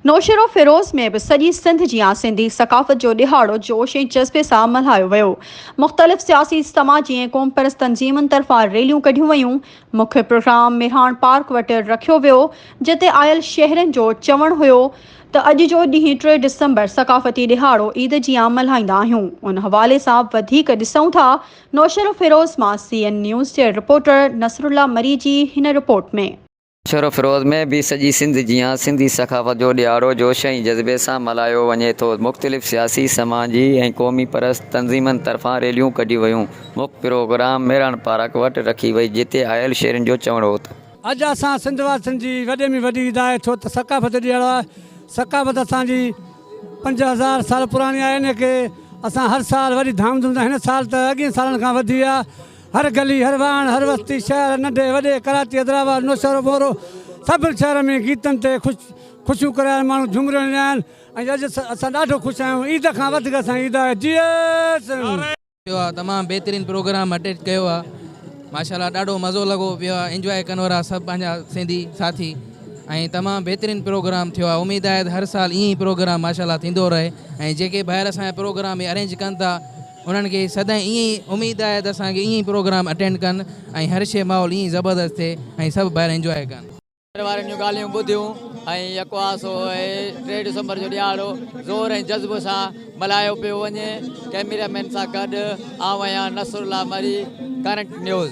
نوشهروفيروز ۾ به سڄي سنڌ جيان سنڌي ثقافت جو ڏهاڙو جوش ۽ جذبي سان ملهايو ويو. مختلف سياسي، سماجي ۽ قومپرست تنظيمن طرفان ريليون ڪڍيون ويون. مکيه پروگرام ميرهاڻ پارڪ وٽ رکيو ويو، جتي آيل شهرين جو چوڻ هيو ته اڄ جو ڏينهن ٽي ڊسمبر ثقافتي ڏهاڙو عيد جيان ملهائيندا آهيون، ان حوالي سان وڌيڪ ڏسون ٿا نوشهروفيروز مان سي اين نيوز جي رپورٽر نصرالله مري جي هن رپورٽ ۾. شھر فيروز ۾ به سڄي سنڌ جيان سنڌي ثقافت جو ڏھاڙو جوش ۽ جذبي سان ملھايو وڃي ٿو، مختلف سياسي، سماجي ۽ قومي پرست تنظيمن طرفان ريليون ڪڍيون ويون، مک پروگرام ميراڻ پارڪ وٽ رکي وئي جتي آيل شھرين جو چوڻ ھو ته. اڄ اسان سنڌ واسين جي وڏي ۾ وڏي عيد آھي ڇو ته ثقافت جو ڏھاڙو آھي، ثقافت اسان جي پنج ھزار سال پراڻي آھي ان ڪري اسان ھر سال وڏي ڌام ڌوم سان ھن سال ته اڳين سالن کان وڌي آھي هر گلي، هر واڻ، هر وستي، شهر، ننڍي وڏي، ڪراچي، حيدرآباد، نوشهرو مورو، سڀ شهر ۾ گيتن تي خوش خوشيون ڪرايل ماڻهو جهومي رهيا آهن ۽ اڄ اسان ڏاڍو خوش آهيون عيد کان وڌيڪ اسان عيد آهي جي سنڌ. ڪيو آ تمام بهترين پروگرام اٽيچ ڪيو آ ماشاءالله ڏاڍو مزو لڳو پيو آ انجواء ڪنو را سڀ پنهنجا سنڌي ساٿي ۽ تمام بهترين پروگرام ٿيو آ اميد آهي ته هر سال ائين ئي پروگرام ماشاءالله ٿيندو رهي ۽ جيڪي ڀائر اسان جا پروگرام ارينج ڪن ٿا انهن کي سدائين ائين ئي اميد آهي ته اسان کي ائين ئي پروگرام اٽينڊ ڪن ۽ هر شيء ماحول ائين ئي زبردست ٿئي ۽ سڀ ڀائر انجواء ڪن. گهر وارن جون ڳالهيون ٻڌيون ۽ يڪو آسو اهي ٽي ڊسمبر جو ڏيهاڙو زور ۽ جذب سان ملهايو پيو وڃي. ڪئميرا مين سان گڏ آئون آهيان Nasrullah Marri, current news.